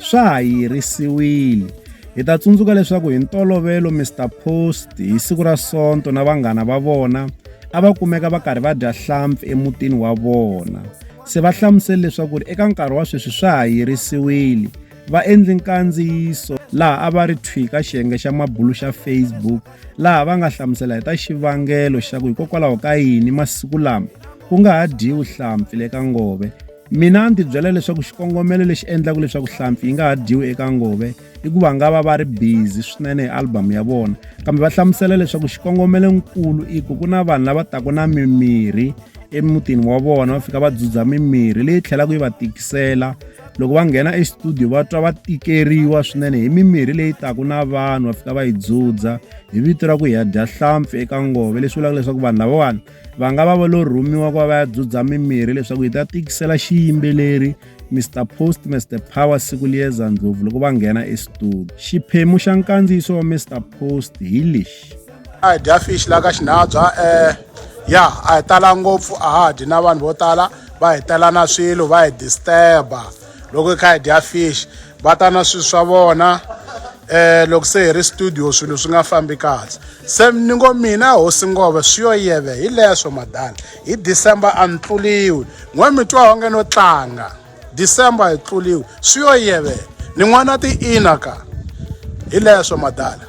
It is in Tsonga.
Swa ha yirisiwile. Hi ta tsundzuka leswaku hi ntolovelo Mister Post hi siku ra Sonto na vanghana va vona a va kumeka va karhi va dya hlampfi emutini wa vona. Se va hlamusele leswaku ri eka nkarhi wa sweswi swa ha yirisiwile. Va endle nkandziyiso laha a va ri thwi ka xiyenge xa mabulu xa Facebook laha va nga hlamusela hi ta xivangelo xa ku hikokwalaho ka yini masiku lama ku nga ha dyiwi hlampfi le ka Ngove. mina ni tibyela leswaku xikongomelo lexi endlaka leswaku hlampfi yi nga ha dyiwi eka ngove i ku va nga va va ri busy swinene hi album ya vona kambe va hlamusela leswaku xikongomelo nkulu i ku ku na vanhu lava taku na mimirhi emutini wa vona va fika va dzudza mimirhi leyi tlhelaka yi va tikisela loko va nghena estudio va twa va tikeriwa swinene hi mimirhi leyi taku na vanhu va fika va yi dzudza hi vito ra ku hi ya dya hlampfi eka ngove leswi vulaka leswaku vanhu lavawani va nga va va lo rhumiwa ku va va ya dzudza mimirhi leswaku yi ta tikisela xiyimbeleri Mr Post Mr Power siku liyeza ndlopfu loko va nghena estudio xiphemu xa nkandziyiso wa Mr Post hi lexi a hi dya fish la ka xinabya um ya a hi tala ngopfu a ha dyi na vanhu vo tala va hi telana swilo va hi disturba loko i kha hi dya fish va ta na swilo swa vona eh loko se hi ri studio swilo swi nga fambi kahle se ni ngo mina hosi ngove swi yo yeve hi leswo madala hi december a ni tluliwi n'we mi twa onge no tlanga december hi tluliwi swi yo yeve ni n'wana ti-ina ka hi leswo madala